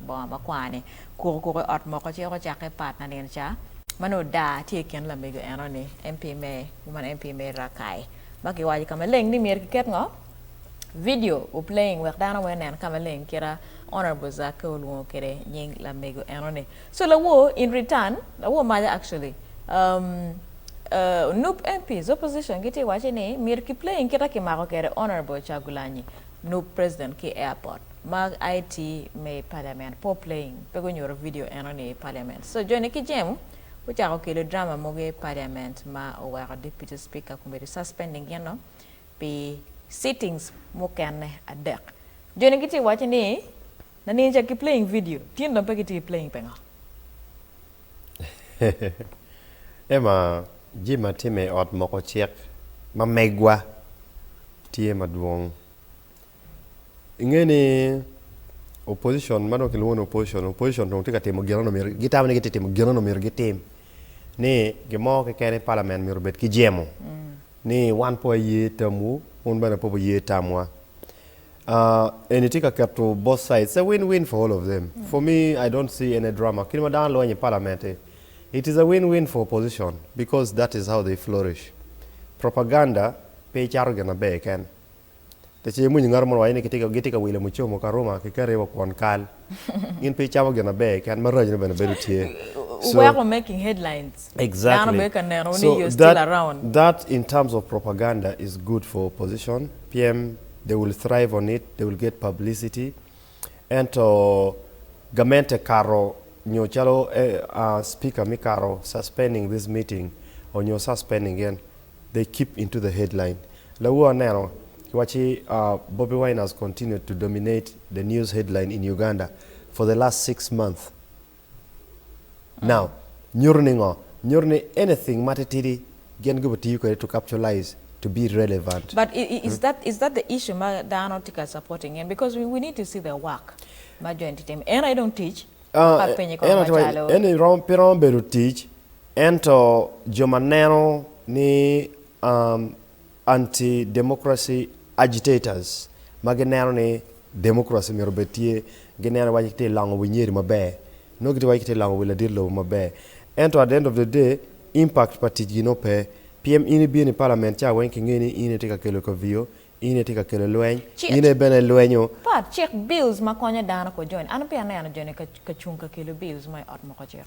Bongo makwar-ni kuko kuko i ot moko ci eko cakke pat nanino ca, ma nongo daa tye i kin lamego eno-ni, MP me Woman MP Mary Rakai, ma kiwaco ka maleng ni myero kiket ngo? Vidio u playing wek dano weng onen ka maleng kite Honourable Zakke olwongo kwede nying lamego eno-ni. So lawor in return, lawor maja actually, um, uh, Nup MPs, opposition gitye waco ni myero ki playing kite kimako kwede Honourable Kyagulanyi, Nup President ki Airport. Mag IT me i Parliament, Poor Playing pe gunyuto vidio enoni i Parliament. So Johnny ki Jem gucako kelo drama mogo i Parliament ma oweko Deputy Speaker Committee suspending gino pi sittings mukene adek. Johnny gitye waco ni Naniya ca ki playing vidio, tin dong pe gitye playing pengo? Emma, Jim atime i ot moko cik ma megwa tye madwong. Inge ni opposition ma dong kilwongo ni opposition, opposition dong tye ka timo gin ano myero gitamo ni gitye timo gin ano myero gitim ni gin mo keken i parliament myero obed ki jemo ni wan po waye tamwu wun bene po wuye tamwa. Eni tye ka keto both sides it's a win win for all of them for me I don't see any drama kit ma dano lweny i parliament ni it is a win win for opposition because that is how they flourish propaganda pe icato gin maber keken. Pe ce imwinyi ngat mo ni waco ni gitye ka wilo mucomo ka ruma ki kati wa kwon kal. Gin pe gicamo gin maber keken, maraco ne bene bedo tye. So, Weko making headlines. Dano Exactly. bene ka neno ni you're So still that around. that in terms of propaganda is good for opposition pien they will thrive on it, they will get publicity. Ento gamente kato nyo calo eh, ah, speaker me kato suspending this meeting or nyo suspending en They keep into the headline Lawu aneno waci Bobi Wine has continued to dominate the news headline in Uganda for the last six months now nyuto ni ngo? Nyuto ni anything ma titidi gin gibo tiyo kwede to captulize to be relevant. But is that is that the issue ma dano tye ka supporting en because we we need to see the work ma jo eni tye timo en aye dong tic? Ka penye kong macalo. En eni romo pe romo bedo tic Ento jo ma neno ni anti-democracy agitators ma gineno ni democracy myero obed tye, gineno iwaci kitye ka longo wi nyeri maber, nongo gitye ka waco ni kitye ka longo wi ladit lobo maber. Ento at the end of the day, impact pa ticgi nongo pe. Pien in ibino i parliament ca weng kingeyo ni in aye itye ka kelo kaviyo, in aye itye ka kelo lweny, in aye bene ilwenyo. Pat cik bills ma konyo dano ko joni. An apeya aneno joni ka cung ka kelo bills mo i ot moko cik.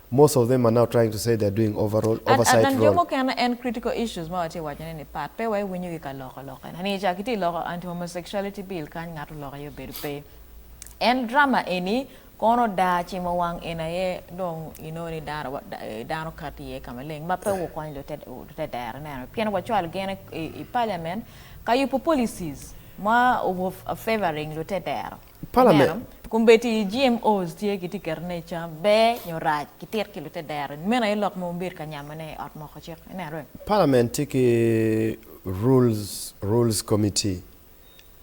Most of them are now trying to say they are doing overall, At oversight Adnan jo role. mukene en critical issues ma watye wacone ni part pe wa iwinyo ki ka loko loke na ni ca kitye loko anti homosexuality bill kany ngato loko aye obedo pe en drama eni kono daa cimo wang en aye dong inongo ni dano dano kato iye ka maleng ma pe wukony lutedera neno pien wacwalo gen i parliament ka yubo policies ma favouring lutedera. Ineno? Kun bed ti GMOs tye giti keto ne i cam, ber nyo rac, ki tit ki lute dero, nyo meno aye lok ma wunbedo ka nyamo ne i ot moko cik. Ineno? Parliament tye ki Rules, Rules Committee,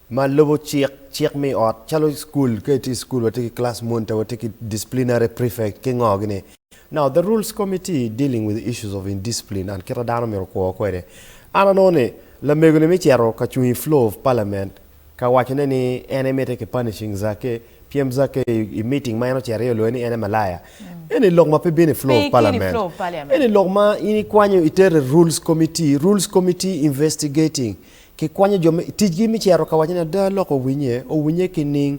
ma lubo cik, cik me ot, calo i school, ka itye i school watye ki class monitor, watye ki disciplinary prefect, ki ngo gi ni. Now the Rules Committee dealing with issues of indiscipline and kita dano myero okwo kwede. An anongo ni lamego ni me cito ka cung i floor of parliament, Ka wacone ni en emite ki punishing Zake, pyem Zake i meeting ma en ocito iye oloyo ni en e malaya. Eni lok ma pe bino i floor of parliament. Eni lok ma in ikwanyo itero i rules committee, rules committee investigating. Kikwanyo jo me, ticgi me cito ka wacone ada lok owinye, owinye ki ning.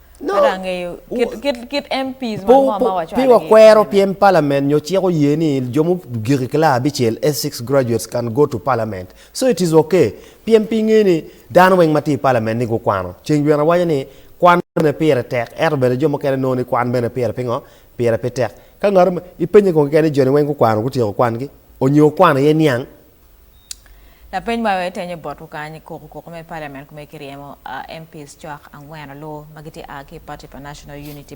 Pi wakwero pien palament nyo cik oye ni jo mugik i kila abicel, S six graduates can go to parliament. So it is ok pien pe ingeyo ni dano weng matye i palament ni gukwano. Ceng Bwira waco ni kwan bene pire tek ento bene jo mukene nongo ni kwan bene pire pingo? Pire pe tek. Ka ngato ipenye kong keken ni joni weng gukwano gutyeko kwangi? Onyo okwano aye niang? Lapeny ma etenyo bot lukany koko koko me parliament kome kiryemo MPs cwak angwen alur ma gitye aa ki party pa National Unity